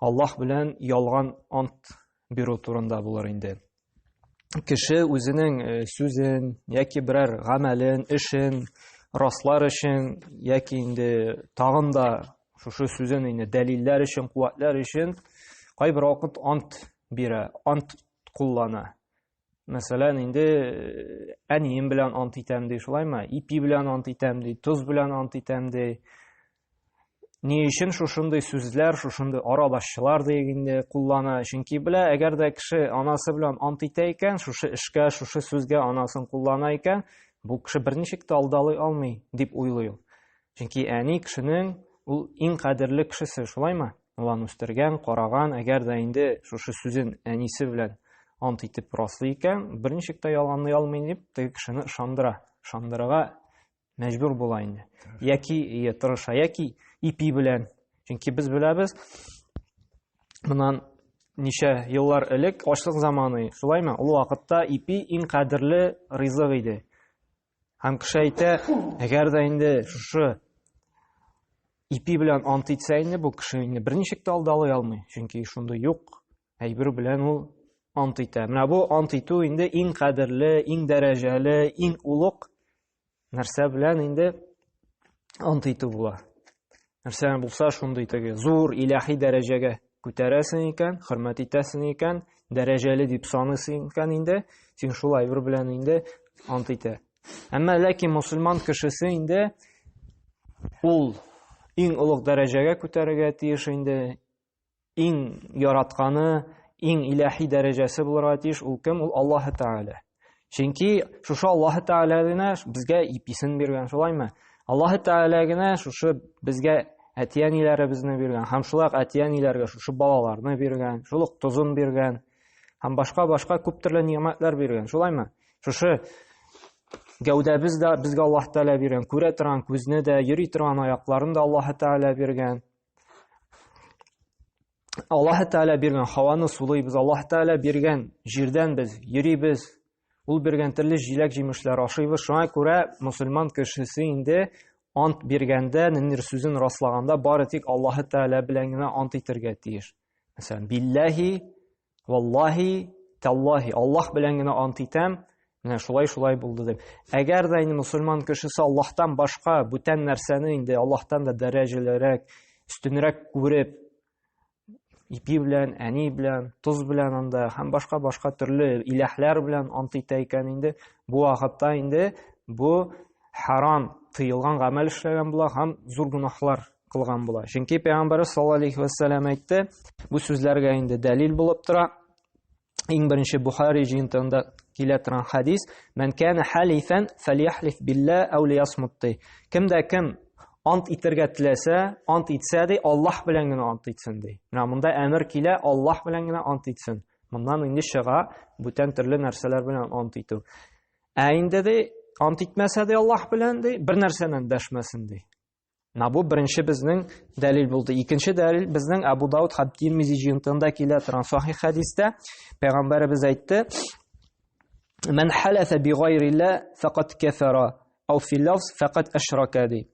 Аллаһ белән ялган ант бирү турында булыр инде. Кеше үзенең э, сүзен яки берәр гамәлен, эшен раслар өчен яки инде тагын да шушы сүзен инде дәлилләр өчен, куәтләр өчен кайбер вакыт ант бирә, ант куллана. Мәсәлән, инде э, әнием белән ант итәм ди, шулаймы? Ипи белән ант итәм ди, тоз белән ант итәм ди. Ни өчен шушындый сүзләр, шушындый арабашчылар диек инде куллана? Чөнки белә, әгәр дә кеше анасы белән ант итә икән, шушы эшкә, шушы сүзгә анасын куллана икән, бу кеше берничек тә алдалый алмый, дип уйлый ул. Чөнки әни кешенең ул иң кадерле кешесе, шулаймы? Улан үстергән, караган, әгәр дә инде шушы сүзен әнисе белән ант итеп раслый икән, берничек тә ялганлый алмый дип, теге кешене ышандыра. Ышандырырга мәҗбүр була инде. Яки ие тырыша, яки ипи белән. Чөнки без беләбез, моннан ничә еллар элек ачлык заманы, шулаймы? Ул вакытта ипи иң кадерле ризык иде. Һәм кеше әйтә, әгәр дә инде шушы ипи белән ант итсә инде бу кеше инде берничек тә алдалый алмый, чөнки шундый юк әйбер белән ул ант итә. Менә бу ант итү инде иң кадерле, иң дәрәҗәле, иң улук нәрсә белән инде ант итү була. Нәрсә булса шундый теге зур иләхи дәрәҗәгә күтәрәсең икән, хөрмәт итәсең икән, дәрәҗәле дип саныйсың икән инде, син шул әйбер белән инде ант итә. Әмма ләкин мусульман кешесе инде ул иң олуг дәрәҗәгә күтәрергә тиеш инде, иң яратканы, иң иләһи дәрәҗәсе булырга тиеш, ул кем? Ул Аллаһ Тәгалә. Чөнки шушы Аллаһ Тәгалә генә безгә иписен биргән, шулаймы? Аллаһ Тәгалә генә шушы безгә әти-әниләребезне биргән, һәм шулай ук әти-әниләргә шушы балаларны биргән, шул ук тозын биргән, һәм башка-башка күп төрле ниъмәтләр биргән, шулаймы? Шушы гәүдәбез дә безгә Аллаһ Тәгалә биргән, күрә торган күзне дә, йөри торган аякларын да Аллаһ Тәгалә биргән. Аллаһы Тәгалә биргән һаваны сулыйбыз, Аллаһы Тәгалә биргән җирдән без йөрибез, ул биргән төрле җиләк-җимешләр ашыйбыз. Шуңа күрә мусульман кешесе инде ант биргәндә, ниндидер сүзен раслаганда, бары тик Аллаһы Тәгалә белән генә ант итәргә тиеш. Мәсәлән, билләһи Валлаһи, тәллаһи, Аллаһ белән генә ант итәм, менә шулай-шулай булды дип. Әгәр дә инде мусульман кешесе Аллаһтан башка бүтән нәрсәне инде Аллаһтан да дәрәҗәлерәк, өстенрәк күреп, ипи белән, әни белән, тоз белән анда һәм башка-башка төрле иләһләр белән ант итә икән инде, бу вакытта инде бу харам, тыелган гамәл эшләгән була һәм зур гөнаһлар кылган була. Чөнки пәйгамбәрбез саллаллаһу алейхи ва саллям әйтте, бу сүзләргә инде дәлил булып тора. Иң беренче Бухари җыентыгында килә торган хадис: "Мен кана халифан фалихлиф билла ау лиясмутти". Кемдә кем ант итергә теләсә, ант итсә ди, Аллаһ белән генә ант итсен ди. Менә монда әмер килә, Аллаһ белән генә ант итсен. Моннан инде чыга бүтән төрле нәрсәләр белән ант итү. Ә инде ди, ант итмәсә ди Аллаһ белән ди, бер нәрсәннән дәшмәсен ди. Менә бу беренче безнең дәлил булды. Икенче дәлил безнең Абу Дауд һәм Тирмизи җыентында килә торган сахих хәдистә пәйгамбәребез әйтте: "Мен халафа би гайрилла факат кафара, ау фи лафз факат ашрака" ди.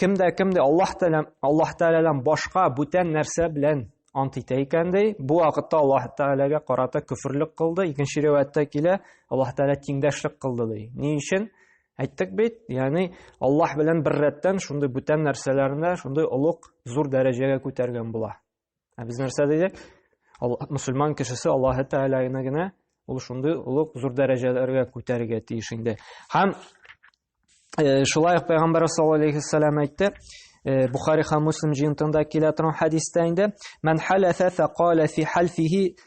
Кемдә кемдә Аллаһ Тәгалә Аллаһ Тәгаләдән башка бүтән нәрсә белән ант итә икән ди, бу вакытта Аллаһ Тәгаләгә карата күферлек кылды. Икенче риваятьтә килә, Аллаһ Тәгалә тиңдәшлек кылды ди. Ни өчен? Әйттек бит, ягъни Аллаһ белән бер рәттән шундый бүтән нәрсәләрне шундый олуг, зур дәрәҗәгә күтәргән була. Ә без нәрсә дидек? Мусульман кешесе Аллаһ Тәгаләне генә ул шундый олуг, зур дәрәҗәләргә күтәрергә тиеш инде. Һәм э, шулай ук Пәйгамбәр саллаллаһу алейхи салам әйтте, э, Бухари һәм Муслим җыентында килә торган хәдистә инде, "Ман халафа фа кала фи халфихи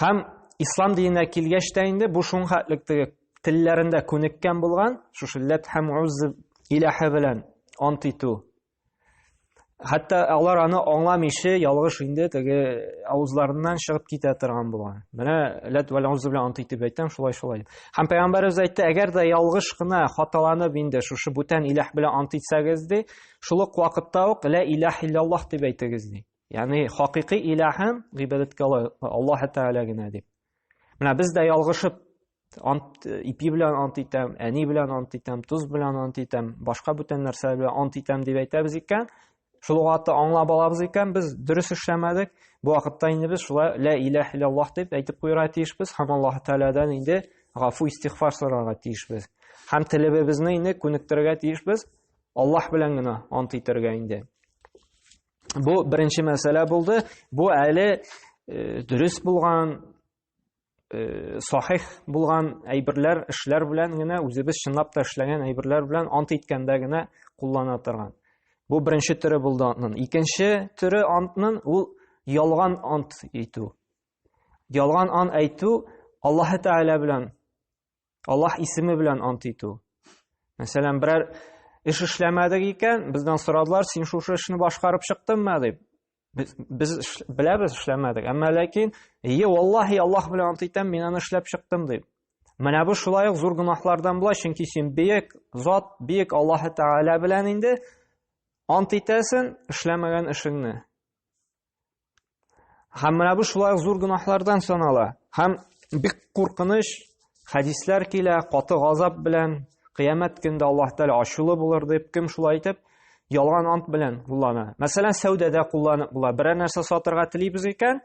Хәм ислам диненә килгәч тә инде бу шуң хәтлек теге телләрендә күнеккән булган, шушы ләт һәм уз иләһе белән ант итү. Хәтта алар аны аңламыйча ялгыш инде теге авызларыннан чыгып китә торган булган. Менә ләт вәл уз белән ант итеп әйтәм, шулай шулай. Һәм пәйгамбәребез әйтте, әгәр дә ялгыш кына хаталанып инде шушы бүтән иләһ белән ант итсәгез ди, шул ук вакытта ук лә иләһ иллаллаһ дип әйтегез ди. Ягъни хакыйкый илаһым гыйбадәткә Аллаһ Тәгалә генә дип. Менә без дә ялгышып ант ипи белән ант итәм, әни белән ант итәм, тоз белән ант итәм, башка бүтән нәрсә белән ант итәм дип әйтәбез икән. Шул вакытта аңлап алабыз икән, без дөрес эшләмәдек. Бу вакытта инде без шулай ла илаһ иллаллаһ дип әйтеп куйырга тиешбез һәм Аллаһ Тәгаләдән инде гафу истигъфар сорарга тиешбез. Һәм телебезне инде күнектерергә тиешбез Аллаһ белән генә ант итәргә инде. Бу беренче мәсьәлә булды. Бу әле э, дөрес булган, э, сахих булган әйберләр, эшләр белән генә үзебез чынлап та эшләгән әйберләр белән ант иткәндә генә куллана торган. Бу беренче төре булды антның. Икенче төре антның ул ялган ант итү. Ялган ант әйтү Аллаһы Тәгалә белән Аллаһ исеме белән ант итү. Мәсәлән, берәр эш эшләмәдек икән, бездән сорадылар, син шушы эшне башкарып чыктыңмы дип. Без, без беләбез эшләмәдек, әмма ләкин, "Ие, валлаһи, Аллаһ белән ант итәм, мин аны эшләп чыктым" дип. Менә бу шулай ук зур гөнаһлардан була, чөнки син бөек зат, бөек Аллаһ Тәгалә белән инде ант итәсен эшләмәгән эшеңне. Һәм менә бу шулай ук зур гөнаһлардан санала. Һәм бик куркыныч хәдисләр килә, каты газап белән, кыямәт көндә Аллаһ Тәгалә ачулы булыр дип, кем шулай итеп, ялган ант белән куллана. Мәсәлән, сәүдәдә кулланып була. Берәр нәрсә сатырга телибез икән,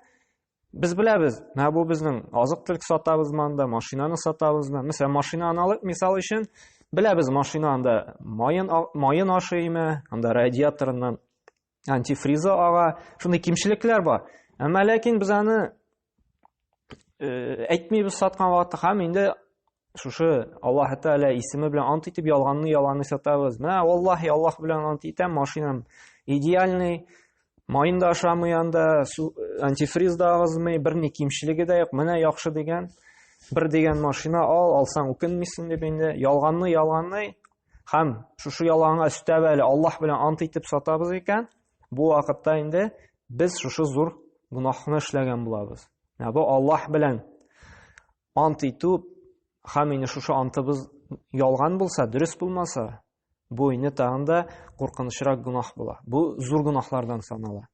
без беләбез, менә бу безнең азык-төлек сатабыз монда, машинаны сатабыз. Мәсәлән, машина аналык мисал өчен, беләбез, машина анда майын майын ашыймы, анда радиаторыннан антифриза ага, шундый кимчелекләр бар. Әмма ләкин без аны э, әйтмибез саткан вакытта һәм инде шушы Аллаһ Тәгалә исеме белән ант итеп ялганны ялганны сатабыз. Менә валлаһи Аллаһ белән ант итәм, машинам идеальный, майын да ашамый анда, антифриз да агызмый, берни кимчелеге дә юк. Менә яхшы дигән, бер дигән машина ал, алсаң үкенмисең дип инде ялганны ялганны Хәм шушы ялганга өстәп әле Аллаһ белән ант итеп сатабыз икән, бу вакытта инде без шушы зур гөнаһны эшләгән булабыз. Менә бу Аллаһ белән ант итү хәм инде шушы антыбыз ялган булса, дөрес булмаса, бу инде тагын да куркынычрак гөнаһ була. Бу зур гөнаһлардан санала.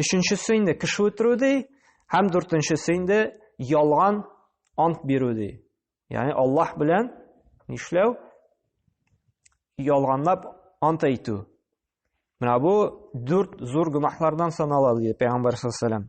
Өченчесе инде кеше үтерү ди, һәм дүртенчесе инде ялган ант бирү ди. Ягъни Аллаһ белән нишләү? Ялганлап ант әйтү. Менә бу дүрт зур гөнаһлардан санала ди Пәйгамбәр саллаллаху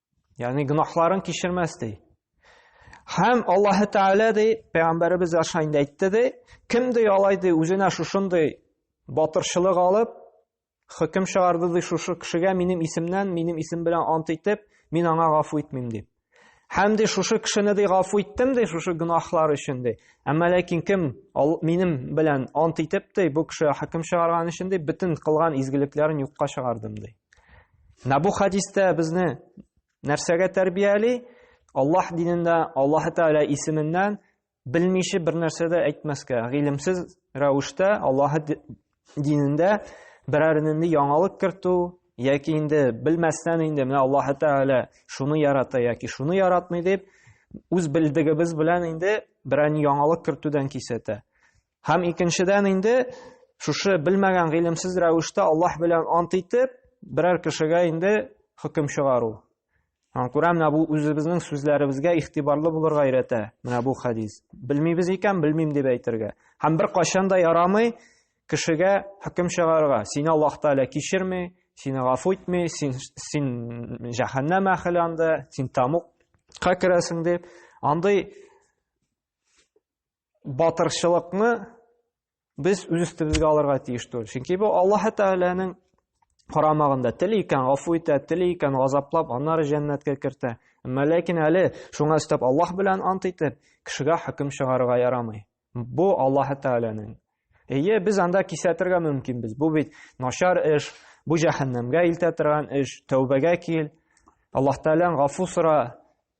Ягъни гөнаһларын кичермәс ди. Һәм Аллаһы Тәгалә ди, пәйгамбәребез аша инде әйтте ди, кем ди алай ди үзенә шушындый батырчылык алып, хөкем чыгарды ди шушы кешегә минем исемнән, минем исем белән ант итеп, мин аңа гафу итмим дип. Һәм ди шушы кешене ди гафу иттем ди шушы гөнаһлар өчен ди. Әмма ләкин кем минем белән ант итеп ди бу кеше хөкем чыгарган өчен ди бөтен кылган изгелекләрен юкка чыгардым ди. Менә бу хадистә безне нәрсәгә тәрбияли? Аллаһ динендә, Аллаһ Тәгалә исеменнән белмичә бер нәрсә дә әйтмәскә, гыйлемсез рәвештә Аллаһ динендә берәр нинди яңалык кертү яки инде белмәстән инде менә Аллаһ Тәгалә шуны ярата яки шуны яратмый дип үз белдегебез белән инде берәр яңалык кертүдән кисәтә. Һәм икенчедән инде шушы белмәгән гыйлемсез рәвештә Аллаһ белән ант итеп, берәр кешегә инде хөкем чыгару. Һәм күрәм, менә бу үзебезнең сүзләребезгә игътибарлы булырга өйрәтә. Менә бу хадис. Белмибез икән, белмим дип әйтергә. Һәм бер кашан да ярамый кешегә хөкем чыгарырга. Сине Аллаһ Тәгалә кичерми, сине гафу итми, син син җәһәннәм әхеле анда, син тамукка керәсең дип. Андый батырчылыкны без үз өстебезгә алырга тиеш түгел. Чөнки бу Аллаһ Тәгаләнең карамагында. Тели икән гафу итә, тели икән газаплап, аннары җәннәткә кертә. Әмма ләкин әле шуңа өстәп Аллаһ белән ант итеп, кешегә хөкем чыгарырга ярамый. Бу Аллаһ Тәгаләнең. Әйе, без анда кисәтергә мөмкинбез. Бу бит начар эш, бу җәһәннәмгә илтә торган эш. Тәүбәгә кил. Аллаһ Тәгалән гафу сора.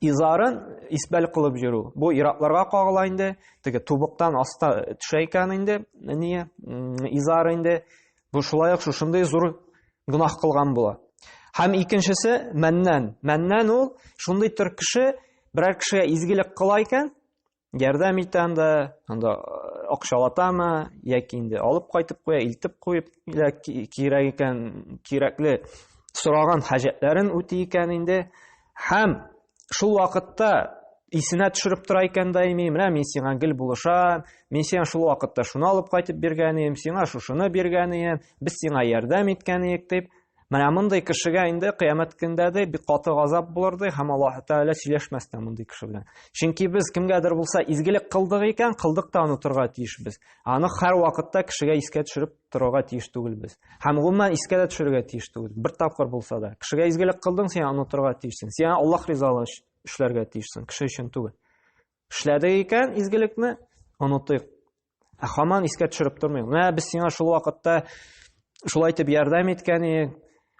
изарын исбәл кылып йөрү. Бу иратларга кагыла инде. Теге тубыктан аста төшә икән инде, әния, изар инде. Бу шулай ук шушындый зур гөнаһ кылган була. Һәм икенчесе мәннән. Мәннән ул шундый төр кеше, берәр кешегә изгелек кыла икән, ярдәм итә анда анда э, акчалатамы яки инде алып кайтып куя илтеп куеп кирәк икән кирәкле сораган хаҗәтләрен үти икән инде һәм шул вакытта исенә төшереп тора икән даими менә мин сиңа гел булышам мин сиңа шул вакытта шуны алып кайтып биргән идем сиңа шушыны биргән идем без сиңа ярдәм иткән идек дип Менә мондый кешегә инде кыямәт көндә дә бик каты газап булыр ди һәм Аллаһ Тәгалә сөйләшмәс тә мондый кеше белән. Чөнки без кемгәдер булса изгелек кылдык икән, кылдык та онытырга тиеш без. Аны һәр вакытта кешегә искә төшереп торырга тиеш түгел без. Һәм гомумән искә дә төшерергә тиеш түгел. Бер тапкыр булса да. Кешегә изгелек кылдың, син онытырга тиешсең. Син Аллаһ ризалыгы өчен эшләргә тиешсең, кеше өчен түгел. Эшләдек икән изгелекне, онытыйк. Ә хаман искә төшереп тормый. Менә без сиңа шул вакытта шулай итеп ярдәм иткән идек,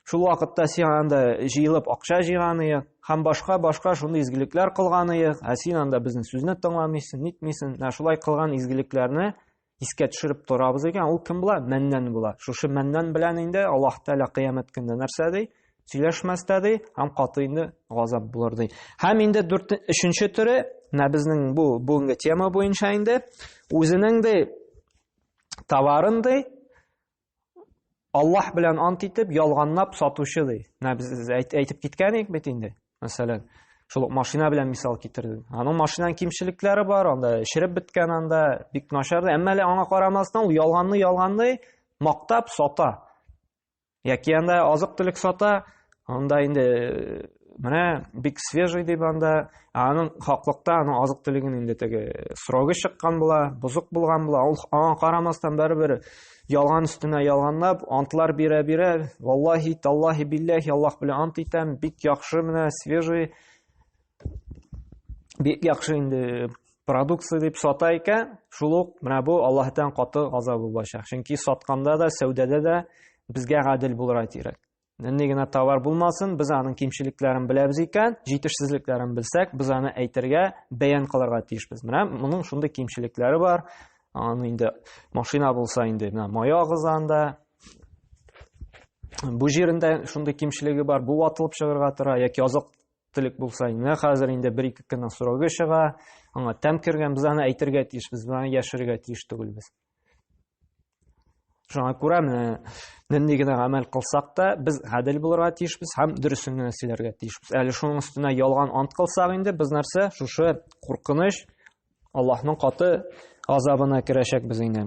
шул вакытта сиңа анда җыелып акча җыйган идек, һәм башка башка шундый изгелекләр кылган идек, ә син анда безнең сүзне тыңламыйсың, нитмисең. Менә шулай кылган изгелекләрне искә төшереп торабыз икән, ул кем була? Мәннән була. Шушы мәннән белән инде Аллаһ Тәгалә кыямәт көндә нәрсә ди? сөйләшмәс тә ди һәм каты инде газап булыр ди һәм инде дүрт өченче төре менә безнең бу бүгенге тема буенча инде үзенең ди товарын ди аллаһ белән ант итеп ялганлап сатучы ди менә без әйтеп киткән идек бит инде мәсәлән шул ук машина белән мисал китердем аның машинаның кимчелекләре бар анда эшереп беткән анда бик начар әмма әле аңа карамастан ул ялганны ялганны мактап сата Яки анда азык-төлек сата, анда инде э, менә бик свежий дип анда аның хаклыкта аның азык төлеген инде теге срогы чыккан була бозык булган була ул аңа карамастан барыбер ялган өстенә ялганлап антлар бирә бирә валлахи таллахи биллахи аллах белән ант итәм бик яхшы менә свежий бик яхшы инде продукция дип сата икән шул ук менә бу аллаһтан каты газабы булачак чөнки сатканда да сәүдәдә дә безгә гадел булырга кирәк нинди генә товар булмасын без аның кимчелекләрен беләбез икән җитешсезлекләрен белсәк без аны әйтергә бәян кылырга тиешбез менә моның шундый кимчелекләре бар аны инде машина булса инде менә мая агызганда бу җирендә шундый кимчелеге бар бу ватылып чыгарга тора яки азык Телек булса, менә хәзер инде бер-ике көннең срогы чыга, аңа тәм кергән, без аны әйтергә тиеш, без аны яшерергә тиеш түгел без. Шуңа күрә менә нинди генә гамәл кылсак та, без гадел булырга тиешбез һәм дөресен генә сөйләргә тиешбез. Әле шуның өстенә ялган ант кылсак инде, без нәрсә? Шушы куркыныч Аллаһның каты азабына керәчәк без инде.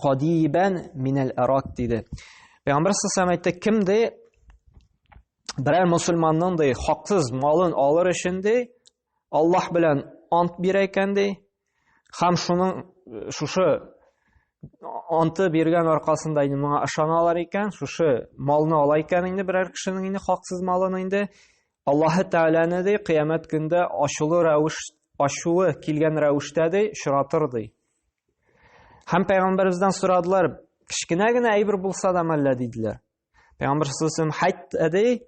Кадибән минәл арак диде. Пәйгамбәр сәлләһу әйтте, кем дә берәр мусульманның да хаксыз малын алыр өчен дә Аллаһ белән ант бирә икән дә, һәм шуның шушы анты биргән аркасында инде моңа ышаналар икән, шушы малны ала икән инде берәр кешенең инде хаксыз малын инде Аллаһы Тәгаләне ди кыямәт көндә ачулы рәвеш ачуы килгән рәвештә ди очратыр ди. Һәм пәйгамбәребездән сорадылар, кечкенә генә әйбер булса да мәллә диделәр. Пәйгамбәр саллаллаху хәйт әдей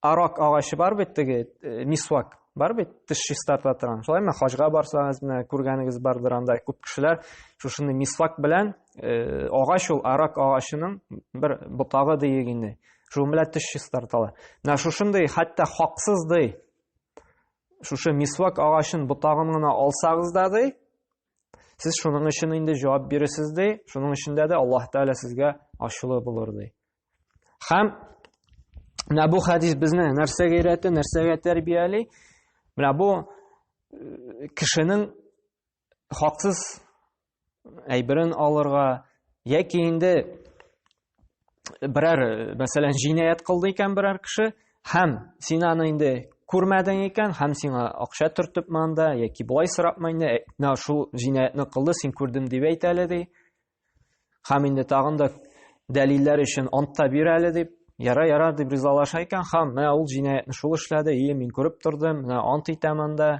арак агачы бар бит теге э, мисвак бар бит теш чистарта торган. Шулай ме хаҗга барсагыз менә күргәнегез бардыр анда күп кешеләр шушыны мисвак белән э, агач ул арак агачының бер ботагы диек инде. Шуның белән теш чистарталар. Менә шушындый хәтта хаксыз ди Шушы мисвак агачын ботагын гына алсагыз да ди, сез шуның өчен инде җавап биресез ди, шуның өчен дә Аллаһ Тәгалә сезгә ачулы булыр ди. Хәм менә бу хәдис безне нәрсәгә өйрәтә, нәрсәгә тәрбияли? Менә бу э, кешенең хаксыз әйберен алырга яки инде берәр мәсәлән җинаять кылды икән берәр кеше һәм син аны инде күрмәдең икән һәм сиңа акча төртеп манда яки болай сорапмы инде «Ә, менә шул җинаятьне кылды син күрдем дип әйт әле ди һәм инде тагын да дәлилләр өчен ант та бир әле дип яра яра дип ризалаша икән һәм менә ул җинаятьне шул эшләде и мин күреп тордым менә ант итәм анда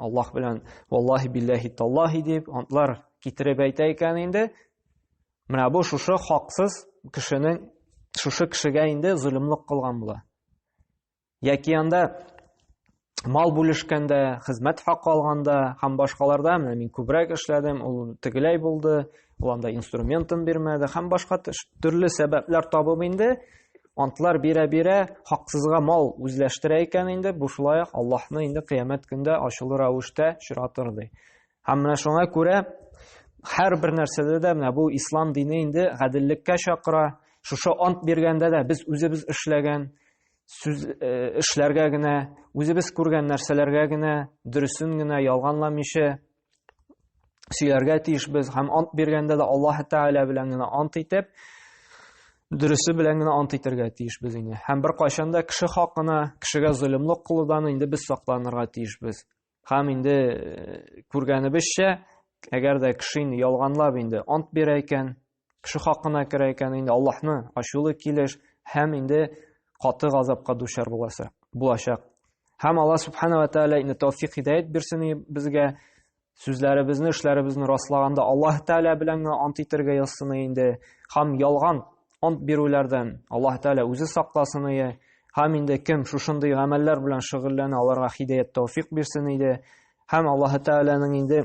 Аллаһ белән валлаһи билләһи таллаһи дип антлар китереп әйтә икән инде. Менә бу шушы хаксыз кешенең шушы кешегә инде золымлык кылган була. Яки анда мал бүлешкәндә, хезмәт хакы алганда һәм башкаларда менә мин күбрәк эшләдем, ул тегеләй булды, Ул анда инструментын бирмәде һәм башка төрле сәбәпләр табып инде антлар бирә-бирә хаксызга мал үзләштерә икән инде, бу шулай ук Аллаһны инде кыямәт көндә ачулы рәвештә очратыр ди. Һәм менә шуңа күрә һәр бер нәрсәдә дә менә бу ислам дине инде гаделлеккә чакыра. Шушы ант биргәндә дә без үзебез эшләгән сүз э, эшләргә генә, үзебез күргән нәрсәләргә генә, дөресен генә ялганламыйча сөйләргә тиеш без һәм ант биргәндә дә Аллаһ Тәгалә белән генә ант итеп, дөресе белән генә ант итәргә тиеш без инде. Һәм бер кайчан да кеше хакына, кешегә зөлемлек кылудан инде без сакланырга тиеш без. Һәм инде э, күргәнебезчә, әгәр дә кеше инде ялганлап инде ант бирә икән, Кеше хакына керә икән инде Аллаһны ачулы килеш һәм инде каты газапка дучар буласы булачак. Һәм Алла субхана ва тааля инде тәүфик хидәят бирсен безгә сүзләребезне, эшләребезне раслаганда Аллаһ тааля белән генә ант итәргә язсын инде. Һәм ялган ант бирүләрдән Аллаһ тааля үзе сакласын иде. Һәм инде кем шушындый гамәлләр белән шөгыльләнә, аларга хидәят тәүфик бирсен иде. Һәм Аллаһ тааляның инде